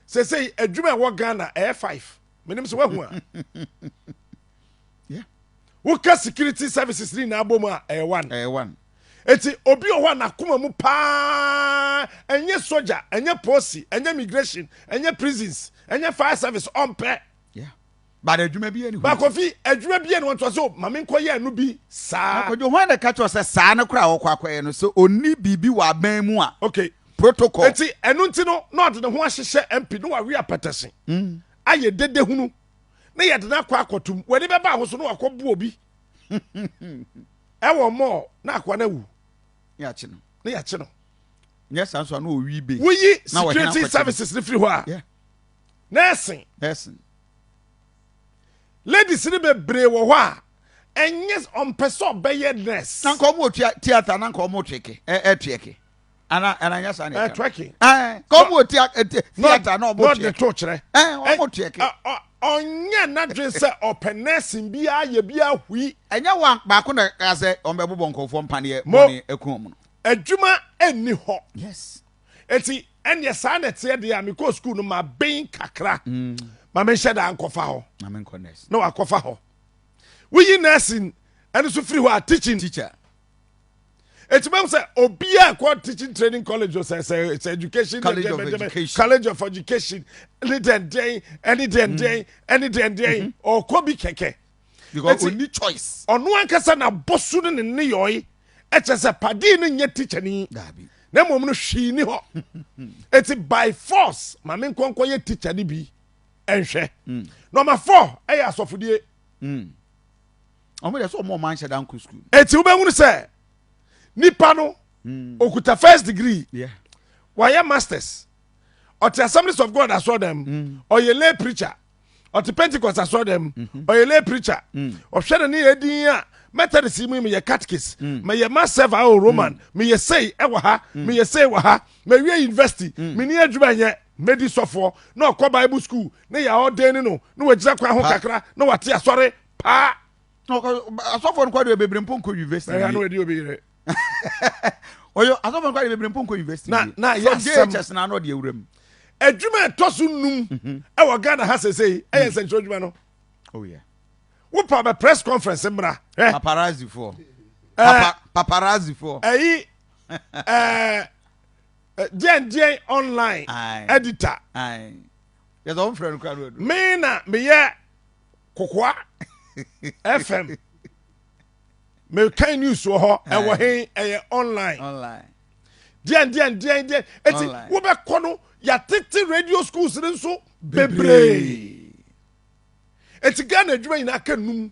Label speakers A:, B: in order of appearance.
A: sesei adwuma ɛwɔ ghana ɛyɛ five menim sɛ woahu a
B: woka
A: security services ne nyinaa bɔ mu a ɛyɛ one ɛyɛ one
B: eti obi
A: wɔ hɔ a n'akoma mu paa ɛnyɛ soja ɛnyɛ polisi ɛnyɛ migration ɛnyɛ prisons ɛnyɛ fire service ɔmpɛ
B: But adwuma bi yɛ ne ho. Ba Kofi, adwuma
A: bi yɛ ne ho ntoa so ma menkɔ yɛ ɛno bi saa. Na Kwadwo, hwan na ɛka kyerɛ wo sɛ
B: saa no koraa a wɔkɔ akɔyɛ no sɛ onni biribi wɔ aban mu a? Okay. Protocol.
A: Enti
B: ɛno nti no
A: na ɔde ne ho ahyehyɛ MP na wawe apɛtɛse ayɛ dede hunu na yɛde no akɔ akɔtom. W'ani bɛba ho so na wakɔ bo obi ɛwɔ mɔɔ na akoa no awu. Ne yɛakye no.
B: Ne yɛakye no.
A: Nyɛ saa nso
B: a na ɔwi be. Woyi security
A: services no firi hɔ a. Yeah.
B: Nɛɛsen.
A: Nɛɛsen. Ladies no bebree wɔ hɔ a ɛnyɛ ɔmpɛ sɛ ɔbɛyɛ nɛɛse. Na nka ɔmo tua theatre
B: na nka ɔmo tweke ɛ ɛ tweke. Ana ana nyɛ saa na ɛka. Ɛ tweke. Ɛ nka
A: ɔmo wɔ tia
B: ɛ theatre na ɔmo tweke. N'ɔde to kyerɛ. Ɛ
A: ɔmo tweke.
B: Ɔnyɛ
A: n'adwene sɛ ɔpɛ nɛɛsen bi ayɛ bi ahui. Ɛnyɛ wɔn baako
B: na ɛka sɛ ɔmo bɛbobɔ nkorɔfoɔ mpaneɛ bɔne ɛko ɔmo no. Adwuma ɛnni
A: hɔ. Yes.
B: eti
A: ɛnneɛ saa na ɛteɛ deɛ a mekɔɔ sukuu no maben kakra mm. ma menhyɛ daa nkɔfa hɔ na
B: wakɔfa hɔ
A: woyi nursing ɛno so firi hɔ a teaching teacher eti mahu sɛ obiara kɔ teaching training college o sɛ sɛ sɛ education college of
B: education college of education
A: ɛne dɛndɛn ɛne dɛndɛn ɛne dɛndɛn ɔkɔ bi kɛkɛ. because ɔni
B: choice ɔno ankasa na
A: bɔso no ne ne yɔe ɛkyɛ sɛ padii no nyɛ tikyani na mmom no
B: hwii
A: ni hɔ ɛti by force ma me nkɔnkɔ yɛ tikya no bi ɛnhwɛ mm. nɔma fɔ ɛyɛ asɔfodie mm.
B: ɔmo yɛ sɛ ɔmo ɔmo anhyɛ da nkɔ sukuu ɛti wobɛhunu sɛ
A: nipa no mm. okuta first degree yeah.
B: wayɛ masters
A: ɔte assemblies of god asɔɔdan mu ɔyɛ lay preacher ɔte pentecost asɔre dɛm mhm. ɔyɛ lay preacher mm. ɔhwɛ ne ne yɛ din a methodist yi mu meyɛ catechies mm. meyɛ masɛv a o roman mm. meyɛ sei ɛwɔ ha meyɛ sei wɔ ha mewie university meni adwuma nyɛ medi sɔfoɔ na ɔkɔ bible school ne yɛ ɔden ne no na wagyina kwan ho kakra na wate asɔre paa
B: asɔfoɔ no kɔdeɛ bebree mpo nkɔ university ɛyɛ na wadi obi yere ɔyɛ asɔfo no kɔ de bebree mpo nkɔ university na na yɛ asɛm jhs
A: na ano de awura
B: mu adwuma ɛtɔ
A: so num mhm. ɛwɔ ghana ha sɛsɛyi ɛyɛ mm. nsɛnkyerɛ adwuma no oh,
B: wopa bɛ
A: press conference mmra eh. paparazzi foɔ
B: eh. paparazzi foɔ ɛyi ɛɛ
A: diɛn diɛn online editor
B: yɛ sɛ wɔn fɛrɛ no kura no ɛdu mi na mi yɛ
A: kokoa fm. mekan news wɔ hɔ ɛwɔ he ɛyɛ online deɛn deɛn deɛn deɛn eti wobɛkɔ no yɛatete radio schools no nso bebree eti ghana adwuma nyinaa ka num